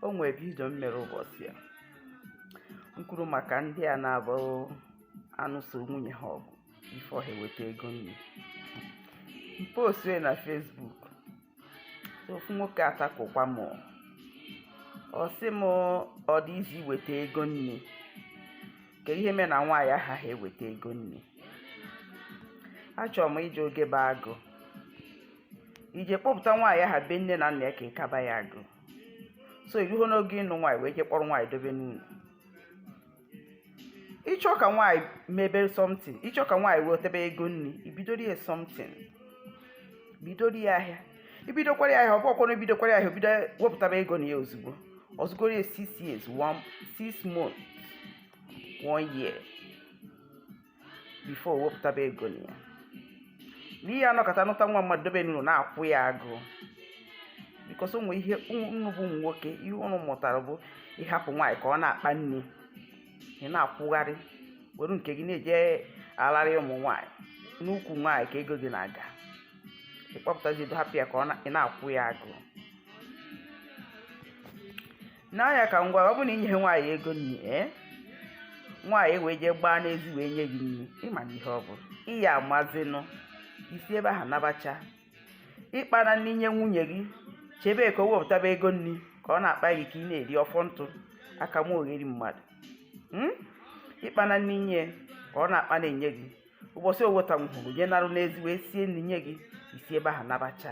o nwere vidio m mere ụbọchị a m kwuru maka ndị a na-abụrụ anụso nwunye ha ọgụ before ha eweta ego nri m postue na Facebook ofu nwoke attackikwa m ọ sị m ọ dị easy iweta ego nri kedu ihe mere na nwaanyị aha ha eweta ego nri achọrọ m iji oge bụ agụ i je kpọpụta nwaanyị aha be nne na nna ya ka ị kwụba ya agụụ so i ruho n'oge ịnụ nwaanyị wee je kpọrọ nwaanyị dobe n'ụlọ ị chọọ ka nwaanyị mebe something ị chọọ ka nwaanyị wetebe ego nri i bidoro ya something bidoro ya ahịa i bidokwara ya ahịa ọ bụọkwa na i bidokwara ya ahịa o bido wepụtaba ego na ya ozugbo ọ zụgoro ya 6 years 1 6 months 1 year before wepụtaba ego na ya n'ihi ya nọkata nụta nwa mmadụ dobe n'ụlọ na-akwụ ya agụụ because o nwere ihe unu bụ ụmụ nwoke ihe unu mụtara bụ ịhapụ nwaanyị ka ọ na-akpa nri ị na-akwụgharị were nke gị na-eje alarị ụmụ nwaanyị n'ukwu nwaanyị ka ego gị na-aga ị kpọpụtazi edo hapụ ya ka ị na-akwụ ya agụụ n'anya ka ngwa ọ bụ na i nyehe nwaanyị ego nri ee nwaanyị wee jee gbaa n'ezi wee nye gị nri ị ma na ihe ọ bụ ị ya-amazinụ i si ebe ahụ nabacha ịkpana nri nye nwunye gị chebe ka o wepụtaba ego nri ka ọ na-akpa gị ka ị na-eri ọfọ ntụ aka m ogheri mmadụ hmm? ịkpana nri nye ka ọ na-akpa na-enye gị ụbọchị o wetanwuhu o je narụ n'ezi wee sie nri nye gị i si ebe ahụ nabacha